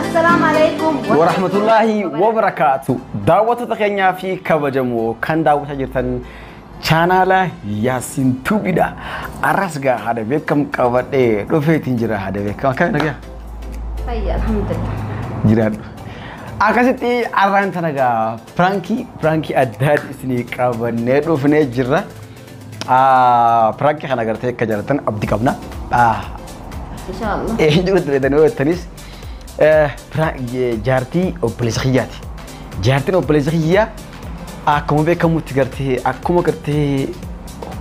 Assalamu alaikum. warahmatullaahi wabarakaatu daawwattoota keenyaa fi kabajamoo kan daawwataa jirtan chaanaala yaasiin tuubidha arras gaa haada beekam qabadhee dhufeetiin jira haada beekam akkami nagaa Fayya alhamdulillah. jiraadhu akkasitti arraan tana gaa piraankii piraankii addaa isinii qabannee dhufnee jirra Piraanki kana agartee akka jaalatan abdi qabna. Inshaallah. Eenyuun itti fayyadamee hojjetanis jaartii obboleessa kiyyaati. Jaartiin obboleessa kiyyaa akkuma beekamutti gartee akkuma gartee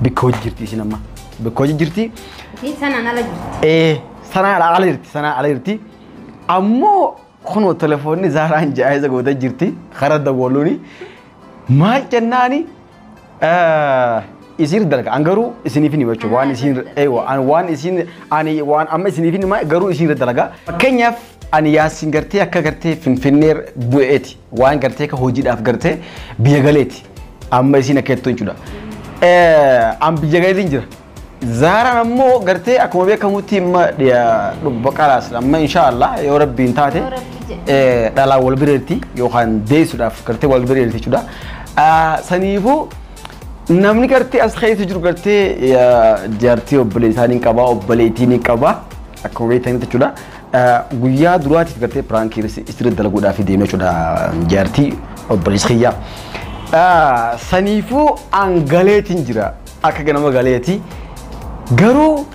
bakka hojii jirti isin amma. Bakka hojii jirti. Isii sanaan ala jirti. Ee sanaa ala ala jirti sanaa ala jirti. Ammoo kunoo telefoonni zaaraan jaayisa gootee jirti karaa dawwaluuni. Maal jennaani isiin dalga an garuu isiniif hima jechuudha waan isiin eewa an waan isiin ani waan amma isiniif hima garuu isiin dalaga fakkeenyaaf ani yaasiin gartee akka gartee finfinnee bu'eeti waan gartee ka hojiidhaaf gartee biyya galeeti amma isiin akka jettu jechuudha an biyya galeetiin jira Zaaraan ammoo gartee akkuma beekamutti amma dhiya dhubba qalaas amma insha Allah yoo rabbiin taate Yoo rabbi jedhe. eh, dhalaan wal bira jirti yookaan deessuudhaaf gartee wal bira jirti jechuudha. Ah, Saniifuu namni gartee as keessa jiru gartee eh, jaartii obboleessaa ni qaba obboleettii ni qaba akkuma beektanitti jechuudha. Ah, Guyyaa duraatiif gartee piraankii istirri dalaguudhaaf deemee jechuudha jaartii obboleessi kiyyaa. Ah, Saniifuu angaleetiin jira. akka ganama galeeti. Garuu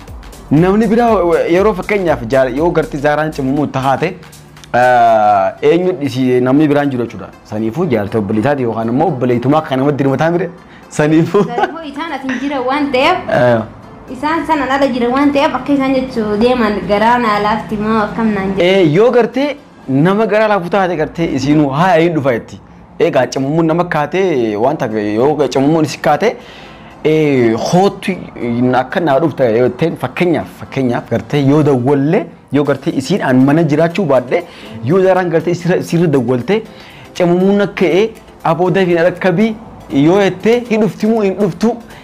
namni biraa yeroo fakkeenyaaf jaal- yoo garti zaaraan cimamuu itti haate eh, eenyu dhisi- namni biraan jiru jechuudha. Saniifuu jaartii obboleessaati yookaan immoo obboleettumaa akka namatti dirmataa mire saniifuu. Garuu isaan asin jira waan ta'eef Eh, isaan sana ala jira waan ta'eef akka isaan jechuu deeman garaa naa laafti moo akkam naan jedhu. eh, Yoo gartee nama garaa laafu taate gartee isiinuu haa hin dhufa jetti. Egaa cimammuun nama kaate waan tafe yoo cimammuun si kaate kootu akka naa dhufta yooteen fakkeenyaaf fakkeenyaaf gartee yoo dawwallee yoo gartee isiin aan mana jiraachuu baadhe yoo daraan gartee sirra dawwaltee cimammuun akka ee aboo dafiin rakkabii yoo jettee hin dhuftimuu hin dhuftuu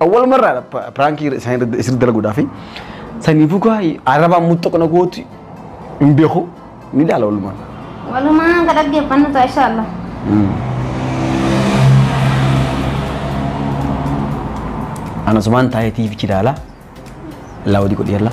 Awwaluma irraa piraankii isaan isirri dalaguudhaa fi saniifuu kaa arabaan muxxaqna gooti hin beeku ni ilaala walumaan. Walumaan ka dhaggeeffannu ta'a insha Allah. Ana sumaan taa'ee tiivichi ilaala. Illaa wadii godhi yalla.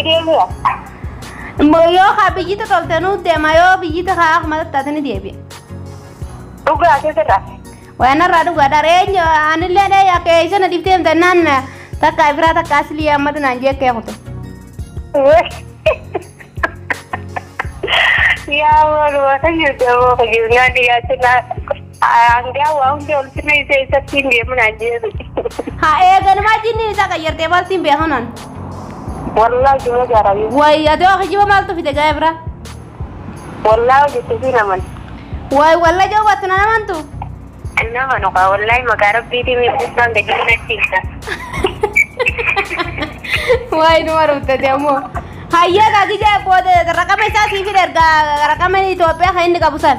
Ideemira. Immoo yoo haa biyyita tolte nuu deema yoo biyyita haa akkuma taate ni deebi'a. Dhugaa keessirra. Waan irraa dhugaa dhareenya anillee dhee akka eessa na dhiftee himte naan takka biraa takka asilii ammatu naan jeekkee kute. Yaa wal wata jirtu ammoo kan jirnaan dhiyaachuu naa. Hangaa waa hundi olti meesee isatti hin deemu naan jeebi. Haa eeganumaa jinniin isaa qayyartee maal siin beeku naan. Wallaa jira jarabii. Wayi ati waa kijiba maaltu fide ga'ee biraa. Wallaa hojjette fi naman. Wayi walla joo wattu na namantu. Nama nuka wallaa maqaa rabbiitiin miidhagsaan gadi hin achiisa. Wayi numa ruuttati ammoo. Hayyaa kaa gijaa booda raqama isaa siif hin ergaa raqama Itoophiyaa kan inni qabu san.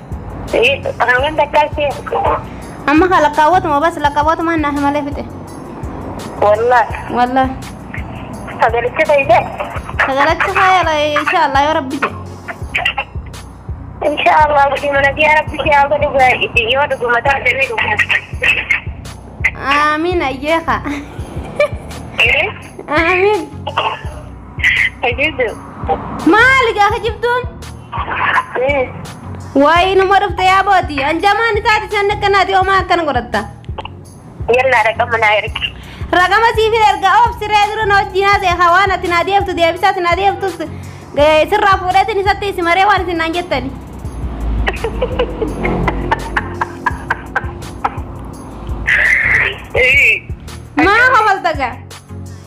Hangam takkaa si Amma haa lakkaawwatuma bas lakkaawwatuma naaf malee fixe. Wallah. Wallah. Sagalicha fayyise. Sagalacha faayala inshaallah yoo rabbi jedhe. Insha Allah gudii mana biyaa rabbi si haa godhu gaa'iti yoo dhuguma taate ni dhuguma. Aamiin ayyee haa. Aamiin. Egeeju. Maali gaa kijibtuun? Ee. Waayii numa dhufte yaa booti. Anjamaan isaati isaan akkanaati homaa akkana godhatta. Yallaa dhaqama naa ergi. Raqama siif hin erga oof siree dura na wajjin haasa'e haa waan ati naa deebtu deebisaa si naa deebtus sirraa fuudheetiin isatti isi maree waan isin naan jettani. Ee. Maa hofalta gaa?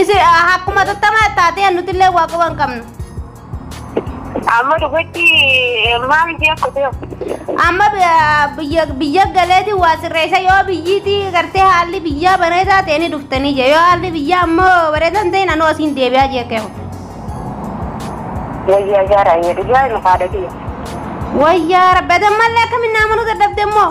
Isi akkuma tattamaa taatee nutillee waa quba hin qabnu. Amma dhugutti maal ishee kutee Amma biyya- biyya biyya galeeti waa sirreessa yoo biyyiitii gartee haalli biyyaa bareedaa ta'e ni dhuftanii jee yoo haalli biyyaa ammoo bareedaa hin ta'in anoo asiin deebi'aa jee keehu. wayyaa jaaraa hin jedhu jaara nu haadha kiyya. Wayyaa rabbi atammallee akkamiin naamanu dadhabde immoo.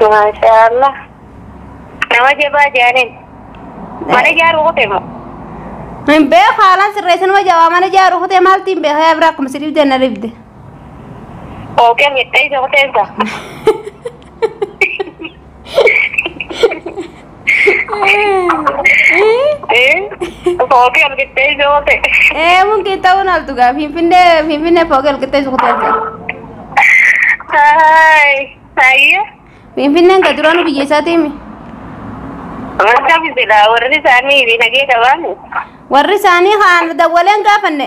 Maashaallah. Nama jabaa jaanin. Mana ijaaruu kutee moo? Hin beeku haalaan sirreessinuma jabaa mana ijaaru kutee maalti hin beeku yaa bira akkuma sidiif jenna ribde. Ookee miidhee isa kuteensa. Foogii argittee ijoo ta'e. Ee mun kee ta'uu naaltu gaa finfinnee finfinnee foogii argittee ijoo ta'e. Haay. Hayyee. Finfinneen ka duraanuu biyya isaatiimi. Akkami jedha warri isaanii dinagee qabaani. Warri isaanii kaan dawwaleen gaafanne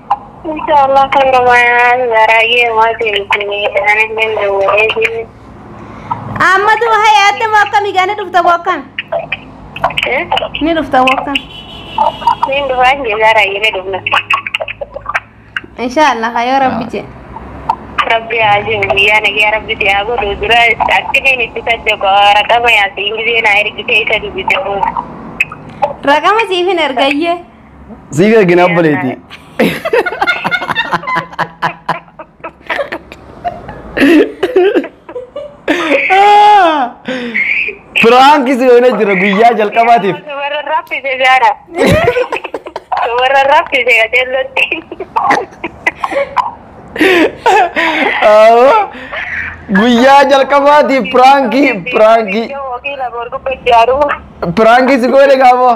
Inshaallah kan gamaan baay'ee maati bitini anillee dawwalee jiru. Ammatu haya atte moo akkam egaa ni dhufta moo akkam? Ni dhufta moo akkam? Niin dhufaa hin jirraa raayyilee dhufna. Inshaallah hayoo rabbi jee. Rabbi haa jiru guyyaa nagaa rabbi si haa godhu dura akkiniin itti sajjoko raqama yaasi ingilizee naa ergitee isa dubbise. Raqama siif hin ergayyee. Sii gargina obboleetii. Firaanki si hoina jira guyyaa jalqabaatiif. Warra raffise jaara. Warra raffise qajeellotti. Awwa. Guyyaa jalqabaatiif piraankii piraankii Wakiila boorgubbatti jaaruu. piraankii si goone gaamoo.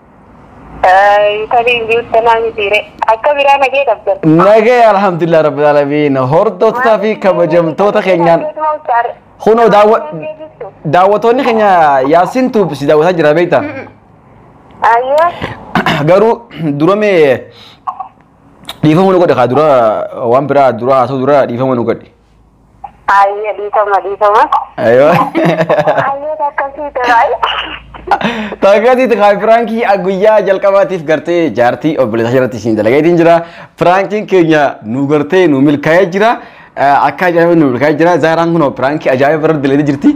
Tabiin jirta naa mitiire. Akka biraa nagee qabdan. Nagee alhamdulillah rabbil alamin hordoftoota fi kabajamtoota keenyaan kunoo daawwa- daawwattoonni keenya yaasin tuub si daawwataa jira beekta Ayyoo. garuu dura mee dhiifama nu godhe kaa dura waan biraa dura haasoo dura dhiifama nu godhe Ayyee dhiifama dhiifama. Aywa. Ayyee akkasii ta'e. Taakaatii takaa piraankii guyyaa jalqabaatiif gartee jaartii obboleessa irratti isin dalagatiin jira. Piraankiin keenya nu gartee nu milkaa'ee jira. Akka ajaa'iba nu milkaa'ee jira. Zaaraan kun piraankii ajaa'iba irratti dalagee jirti.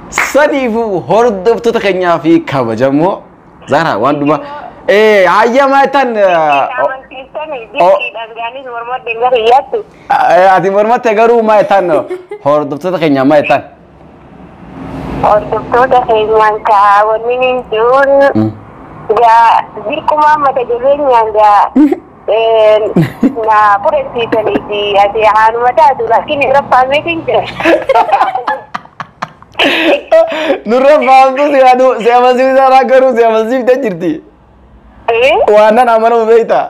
Saniifuu hordoftoota keenyaa fi kabajamoo Zaaraa waan dhuma. Ee hayyamaa tan. Amansiistanii jiddiidhaan gaanis mormadde gara hiyyaatti. Ati mormatte garuu maa jettaan hordoftoota keenya maa jettaan? Hordoftoota keenyaan kaa wanni ni jiruun gaa dirqumaa mata jireenyaan gaa na fudhachiisanii fi ati haanuma taatu laakiin irra faameetiin jira. Nurra faamtu si adu si amansiisaa irraa garuu si amansiifte jirti. Waan nan amanamu beektaa?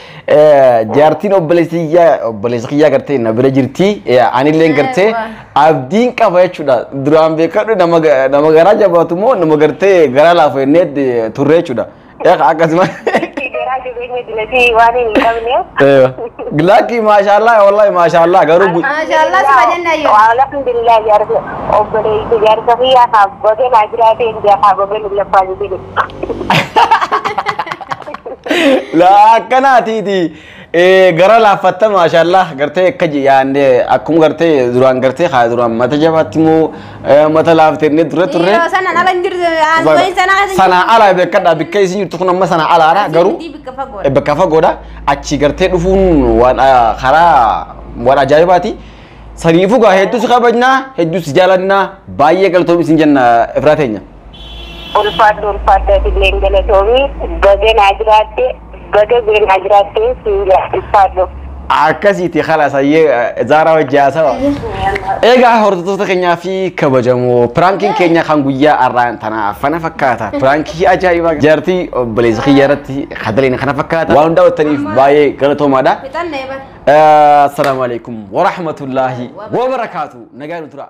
Jaartiin obboleessa kiyyaa obboleessa kiyyaa gartee na bira jirti. Anilleen gartee abdiin qaba jechuudha. Duraan beekadhu nama ga- nama garaa jabaatu moo nama gartee garaa laafu jennee turre jechuudha. Eeqa akkasuma. Garaa jabeenya dilatii waan hin qabneef. Laakki maashaallah wallahi maashaallah garuu gu- Maashaallah suma jenna yoo. Alhamdulillah jaarsa obboleessa jaarsa kiyyaa haa baga naa jiraatee hin jaa haa baga nu laffaa jedhe. La akkanaatiiti Eh, gara laaffatta maashaallah gartee akka yaannee akkuma gartee duraan gartee haa duraan mata jabaatti moo eh, mata laaftennee turre turre. Yeroo sana ala hin jirtu aangoon sana keessa hin Sanaa alaa beekadha bikka isin jirtu kun amma sanaa alaadha jirtu. garuu Asii bikka fagoo. eh, bakka fagoodha achi gartee dhufuun waan ah, karaa waan ajaa'ibaati. Saniifuu gaa hedduu si kabajnaa hedduu si jaalannaa baay'ee galtoomii isin jenna ifraa teenya. Ulfaadhu ulfaadhu atilleen galatoomi baga naa jiraatte baga beenaa jiraatte siin jedha ulfaadhu. Akkasiiti khalas hayyee Zaaraa wajji haasawa. Egaa hordoftoota keenyaa fi kabajamoo piraankiin keenya kan guyyaa har'aan tanaa fana fakkaata. Piraankii ajaa'ibaa jaartii obboleessa kiyya irratti kadaleen kana fakkaata. Waan hundaa wattaniif baay'ee galatoomaadha. Fixannee bar. Assalaamu alaikum wa rahmatullaahi wa barakaatu. Nagaa nu turaa.